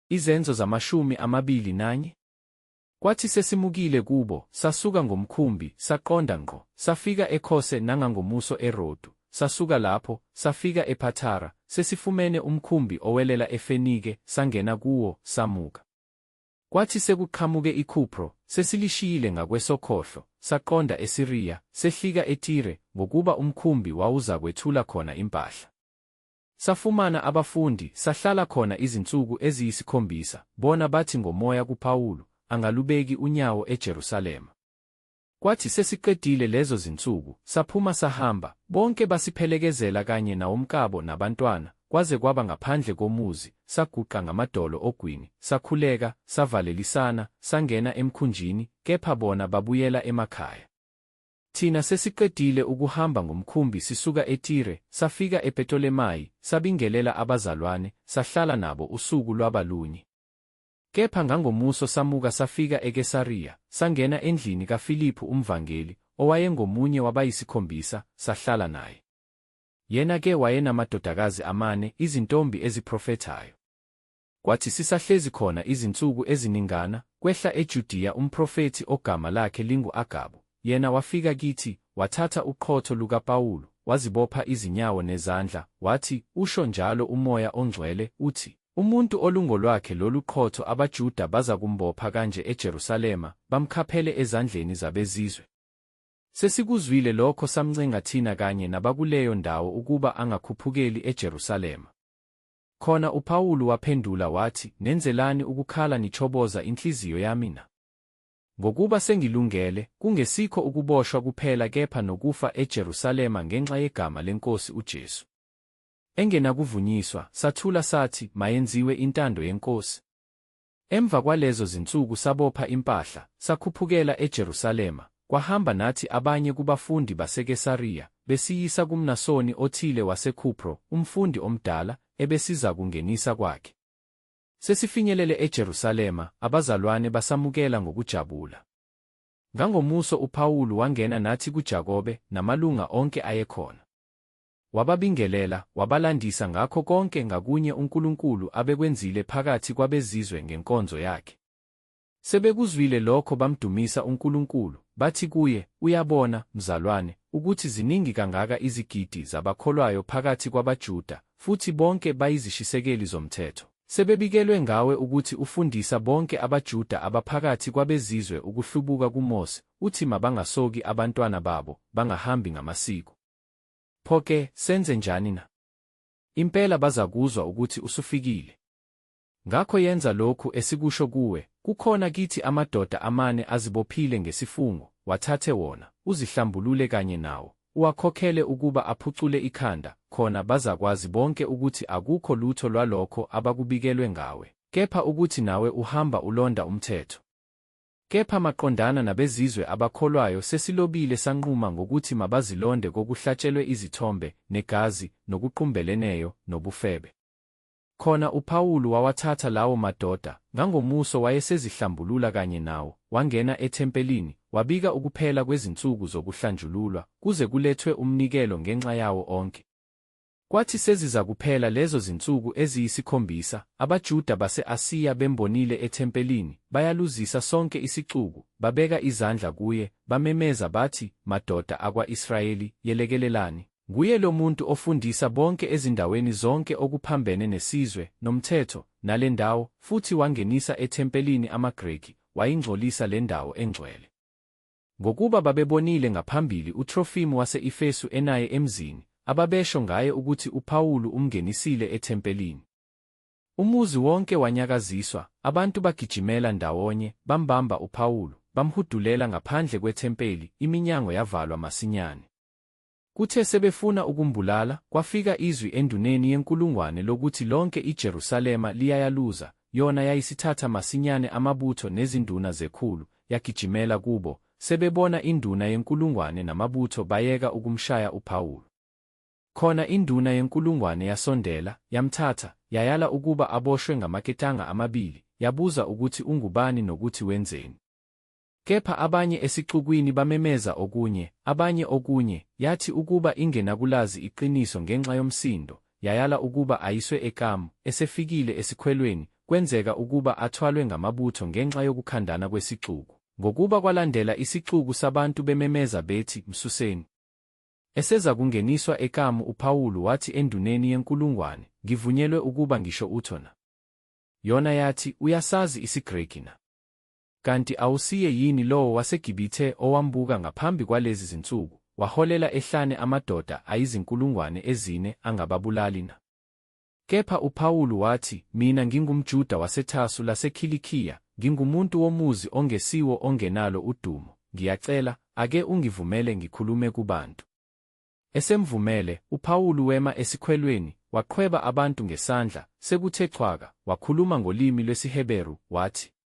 Izenzo zamashumi amabili nanye. Kwathi sesimukile kubo, sasuka ngomkhumbi, saqonda ngqo, safika eKhose nangangomuso eRodu, sasuka lapho, safika ePhathara, sesifumene umkhumbi owelela eFenike, sangena kuwo, samuka. Kwathi sekuqhamuke iKhupro, sesilishiyile ngakwesokhohlo, saqonda eSiriya, sehlika eTire, ngokuba umkhumbi wawuzakwethula khona impahla. Safumana abafundi, sahlala khona izinsuku eziyisikhombisa, bona bathi ngomoya kuPawulu, Angalubeki unyawo eJerusalema. Kwathi sesiqedile lezo zinsuku, saphuma sahamba, bonke basiphelekezela kanye nawomkabo nabantwana, kwaze kwaba ngaphandle komuzi, saguqa ngamadolo ogwini, sakhuleka, savalelisana, sangena emkhunjini, kepha bona babuyela emakhaya. Thina sesiqedile ukuhamba ngomkhumbi sisuka eTire, safika ePetolemayi, sabingelela abazalwane, sahlala nabo usuku lwaba lunye. Kepha ngangomuso samuka safika eKesariya, sangena endlini kaFiliphu umvangeli, owayengomunye wabayisikhombisa, sahlala naye. Yena-ke wayenamadodakazi amane, izintombi eziprofethayo. Kwathi sisahlezi khona izinsuku eziningana, kwehla eJudiya umprofethi ogama lakhe lingu-Agabu, Yena wafika kithi, wathatha uqhotho lukaPawulu, wazibopha izinyawo nezandla, wathi, Usho njalo uMoya oNgcwele, uthi, Umuntu olungolwakhe lolu qhotho abaJuda bazakumbopha kanje eJerusalema, bamkhaphele ezandleni zabeZizwe. Sesikuzwile lokho samncenga thina kanye nabakuleyo ndawo ukuba angakhuphukeli eJerusalema. Khona uPawulu waphendula wathi, Nenzelani ukukhala nichoboza inhliziyo yami na? Ngokuba sengilungele, kungesikho ukuboshwa kuphela kepha nokufa eJerusalema ngenxa yegama leNkosi uJesu. Engenakuvunyiswa, sathula sathi, Mayenziwe intando yeNkosi. Emva kwalezo zinsuku sabopha impahla, sakhuphukela eJerusalema, kwahamba nathi abanye kubafundi baseKesariya, besiyisa kumNasoni othile waseKhupro, umfundi omdala, ebesizakungenisa kwakhe. Sesifinyelele eJerusalema, abazalwane basamukela ngokujabula. Ngangomuso uPawulu wangena nathi kuJakobe namalunga onke ayekhona. Wababingelela, wabalandisa ngakho konke ngakunye uNkulunkulu abekwenzile phakathi kwabeZizwe ngenkonzo yakhe. Sebekuzwile lokho bamdumisa uNkulunkulu, bathi kuye, Uyabona, mzalwane, ukuthi ziningi kangaka izigidi zabakholwayo phakathi kwabaJuda, futhi bonke bayizishisekeli zomthetho. Sebebikelwe ngawe ukuthi ufundisa bonke abaJuda abaphakathi kwabeZizwe ukuhlubuka kuMose, uthi mabangasoki abantwana babo, bangahambi ngamasiko. Pho-ke, senze njani na? Impela bazakuzwa ukuthi usufikile. Ngakho yenza lokhu esikusho kuwe, Kukhona kithi amadoda amane azibophile ngesifungo, wathathe wona, uzihlambulule kanye nawo, uwakhokhele ukuba aphucule ikhanda, khona bazakwazi bonke ukuthi akukho lutho lwalokho abakubikelwe ngawe, kepha ukuthi nawe uhamba ulonda umthetho. Kepha maqondana nabezizwe abakholwayo sesilobile sanquma ngokuthi mabazilonde kokuhlatshelwe izithombe, negazi, nokuqumbeleneyo, nobufebe. Khona uPawulu wawathatha lawo madoda, ngangomuso wayesezihlambulula kanye nawo, wangena ethempelini, wabika ukuphela kwezinsuku zokuhlanjululwa, kuze kulethwe umnikelo ngenxa yawo onke. Kwathi sezizakuphela lezo zinsuku eziyisikhombisa, abaJuda base-Asiya bembonile ethempelini, bayaluzisa sonke isixuku, babeka izandla kuye, bamemeza bathi, Madoda akwa-Israyeli, yelekelelani! Nguye lo muntu ofundisa bonke ezindaweni zonke okuphambene nesizwe, nomthetho, nale ndawo, futhi wangenisa ethempelini amaGreki, wayingcolisa le ndawo engcwele. Ngokuba babebonile ngaphambili uTrofimu wase-Efesu enaye emzini, ababesho ngaye ukuthi uPawulu umngenisile ethempelini. Umuzi wonke wanyakaziswa, abantu bagijimela ndawonye, bambamba uPawulu, bamhudulela ngaphandle kwethempeli, iminyango yavalwa masinyane. Kuthe sebefuna ukumbulala, kwafika izwi enduneni yenkulungwane lokuthi lonke iJerusalema liyayaluza, yona yayisithatha masinyane amabutho nezinduna zekhulu, yagijimela kubo, sebebona induna yenkulungwane namabutho bayeka ukumshaya uPawulu. Khona induna yenkulungwane yasondela, yamthatha, yayala ukuba aboshwe ngamaketanga amabili, yabuza ukuthi ungubani nokuthi wenzeni. Kepha abanye esixukwini bamemeza okunye, abanye okunye, yathi ukuba ingenakulazi iqiniso ngenxa yomsindo, yayala ukuba ayiswe ekamu, esefikile esikhwelweni, kwenzeka ukuba athwalwe ngamabutho ngenxa yokukhandana kwesixuku, ngokuba kwalandela isixuku sabantu bememeza bethi, Msuseni. Esezakungeniswa ekamu uPawulu wathi enduneni yenkulungwane, Ngivunyelwe ukuba ngisho utho na? Yona yathi, Uyasazi isiGreki na? Kanti awusiye yini lowo waseGibithe owambuka ngaphambi kwalezi zinsuku, waholela ehlane amadoda ayizinkulungwane ezine angababulali na? Kepha uPawulu wathi, Mina ngingumJuda waseThasu laseKhilikiya, ngingumuntu womuzi ongesiwo ongenalo udumo, ngiyacela, ake ungivumele ngikhulume kubantu. Esemvumele, uPawulu wema esikhwelweni, waqhweba abantu ngesandla, sekuthe chwaka, wakhuluma ngolimi lwesiHeberu, wathi,